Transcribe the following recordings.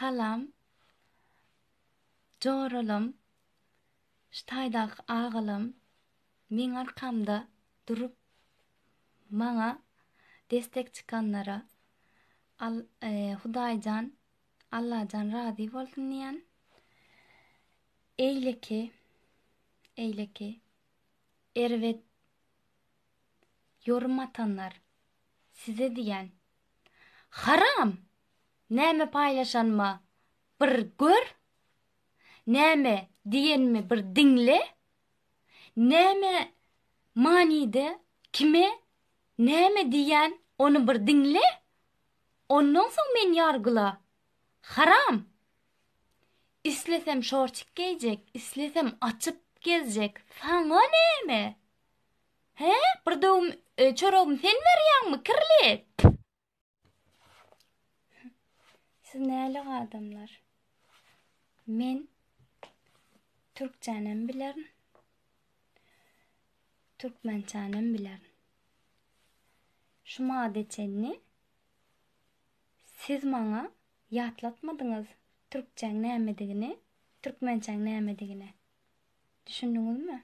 Salam. Joralam, şu taýdaky agalam meň arkamda durup maňa destek çykanlara Al Hudaýjan Allajan razy bolsun diýen. Eýleki eýleki erbet ýorum atanlar Size diýýän. Haram! Näme paýlaşanyma bir gör! Näme diýenimi bir diňle! Näme manyda kime näme diýýän ony bir diňle! Ondan soň meni ýargyla! Haram! Islesem şortik geýjek, islesem açyp gezjek, saňa näme! Hä, bir döwüm çoragymy sen berýäňmi, kirli? Püh! Siz nälik adamlar? Men türkçänem bilerin. Türkmençänem bilerin. Şu mada çenli siz maňa ýatlatmadyňyz türkçäň nämedigini, türkmençäň nämedigini. Düşündiňizmi?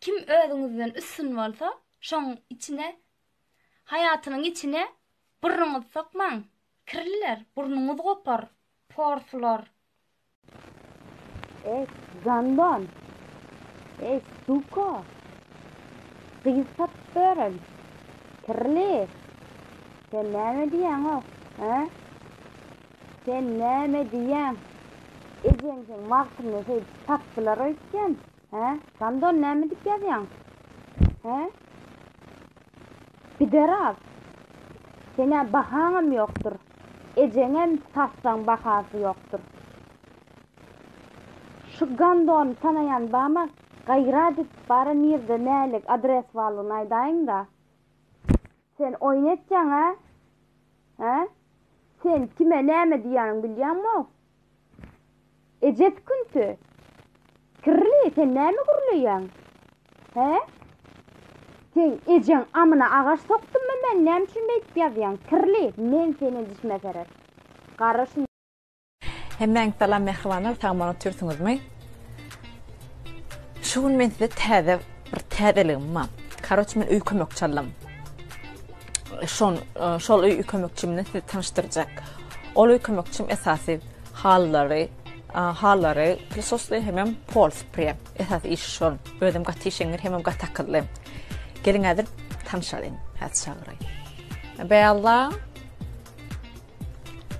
Kim özüňizden üstün bolsa, şoň içine, haýatynyň içine burnuňyzy sokmaň, kirliler, burnuňyzy gopar, porslar. Ej, gandon! Ej, suka! Gyz tapyp beren, kirli! Sen näme diýýäň-ow, hä? Sen näme diýýäň? Ejeňiziň wagtynda şeýdip tapdylar öýtýän, He? Gandon näme dip ýazýaň? He? Pideras. Senä bahaňam ýokdur. Ejeňem satsaň bahasy ýokdur. Şu gandony tanaýan bama gaýrat et bara nirde nälik adres barlygyny aýdaýyňda. Sen oýun etýäň-ä? He? Sen kime näme diýýäniň bilýäňmo? Ejesi künti. Kirli, sen näme gürleýäň? Hä? Sen ejeň amyna agaç sokdummy men? Näme üçin beýdip ýazýaň? Kirli, men seni dişime serer. Gara şun. Hemmäňiz salam mähribanlar, sag-aman otyrsyňyzmy? Şu gün men size täze bir täzeligim bar. Karoç men öý kömekçi aldym. Şon, şol öý kömekçi bilen sizi tanıştyrjak. Ol öý kömekçim esasy hallary, hallary prisosly hemem pol spre. Esas iş şol. Özüm gaty işeňňir hemem gaty akylly. Gelin häzir tanşalyň, häzir çagyraýyn. Bella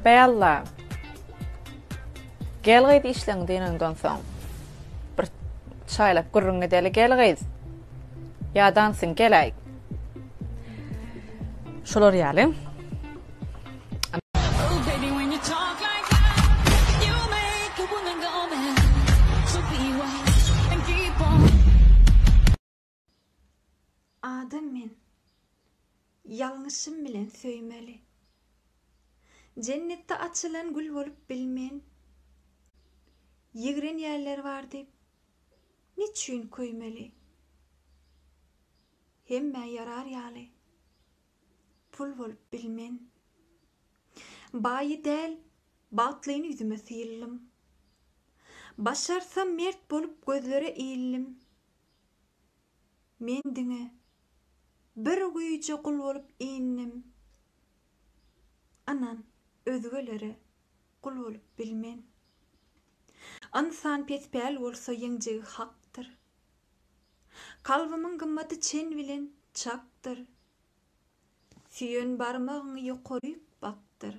Bella. Gel gyz işleň dynandan soň. Bir çaýlap gürrüň gideli gel gyz. Ýadansyň geläý. Şolar ýaly. Adam men. Ýalňyşym bilen söýmeli. Jennetde açylan gül bolup bilmen. Ýigrenýärler bar diýip, niçün köýmeli? Hemmä ýarar ýaly pul bolup bilmen. Baýy däl, bagtlyny ýüzüme syýldym. Başarsam mert bolup gözlere iýildim. Men diňe bir güýje gul bolup indim. Ynan, özgelere gul bolup bilmen. Ynsan pespäl bolsa ýeňjegi hakdyr. Kalbymyň gymmaty çen bilen çakdyr. Süýen barmagyňy ýokaryk bakdyr.